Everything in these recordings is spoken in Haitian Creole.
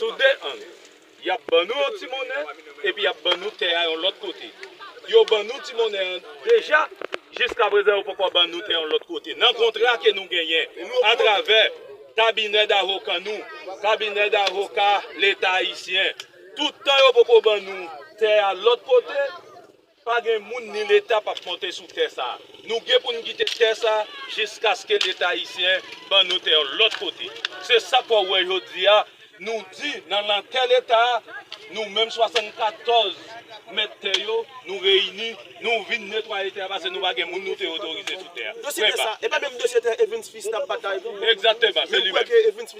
Sou de ang, y ap ban nou yon ti monnen epi y ap ban nou tè a yon lòt kote. Yo ban nou ti monnen an deja, jiskaprezan yo poko ban nou tè yon lòt kote. Nan kontra ke nou genyen atravè kabinè davoka nou, kabinè davoka leta ayisyen, tout tan yo poko ban nou tè a lòt kote, Pa gen moun ni leta pap monte sou tè sa. Nou gen pou n kite tè sa jiskaske leta ayisyen ban nou tè yon lòt kote. Se sa k wè w wè jodi a nou di nan nan tè leta a nou menm 74 mèt tè yo nou reyini nou vin netwaye tè a pase nou pa gen moun nou te otorize sou tè a. Dosye tè sa, e pa menm dosye tè Evens Fils t ap batay pou. Egzakteman, se li menm.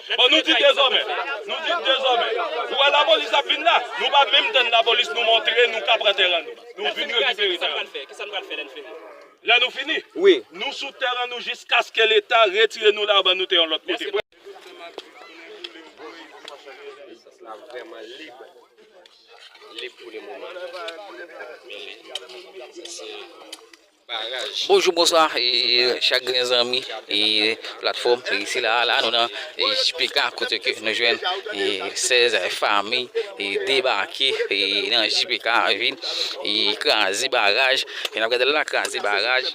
Bon nou di dezòmè, nou di dezòmè, ou wè lapolis ap vin la, nou pa menm tann lapolis nou montre nou ka pran tèren nou, nou vin rekipere tèren nou. Kisa nou pral fè, kisa nou pral fè lè nou fini? Lè nou fini? Wi. Nou sou tèren nou jiskaske leta retire nou la ban nou tè yon lòt kote. Espas la vrèman lib, lib pou le moman. Mele. Sa se. Bonjou bonswa chak gren zanmi platfòm sila a la nou nan JPK kote ke nou jwenn 16 fami debake nan JPK vin kraze baraj jan nap gadel la kraze baraj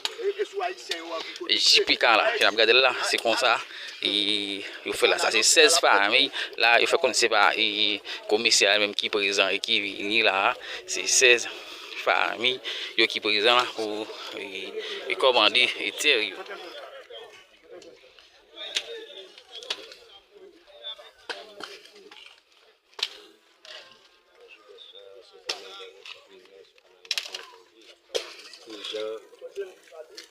JPK la jan nap gadel la se konsa yo fèl la sa se 16 fami la yo fè konn se pa komisè a menm ki prezan e ki vini la se 16. Fanmi yo ki prezan la pou kòmande tè yo.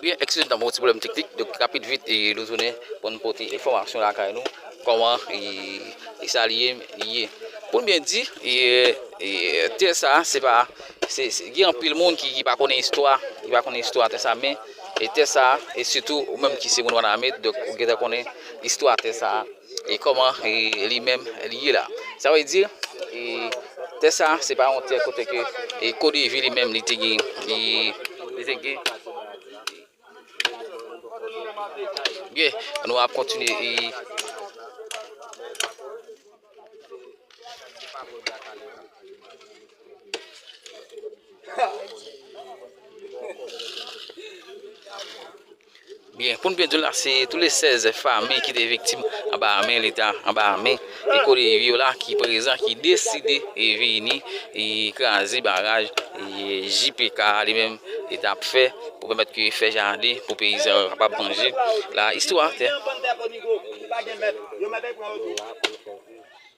Byen ekskize nou ta gen yon ti pwoblèm teknik, donk rapid vit nou tounen pou nou pote enfòmasyon lakay nou kòman e sa li ye. Pou nou byen di tè sa se pa gen anpil moun ki pa konnen istwa, ki pa konnen istwa tè sa men tè sa e sitou ou menm ki se moun Wanament donk ou gendwa konnen istwa tè sa. E koman li menm li ye la. Sa vle di e tè sa se pa yon tè kote ke e kodevi li menm li te gen li te gen Byen, nou ap kontinye e Byen, pou n byen di w la, se tou le 16 fanmi ki te viktim anba men leta, anba men ekole yo la ki prezan, ki deside vini kraze baraj JPK a li menm li t ap fè pou pèmèt ke fè jaden pou peyizan yo kapab manje. La istwa.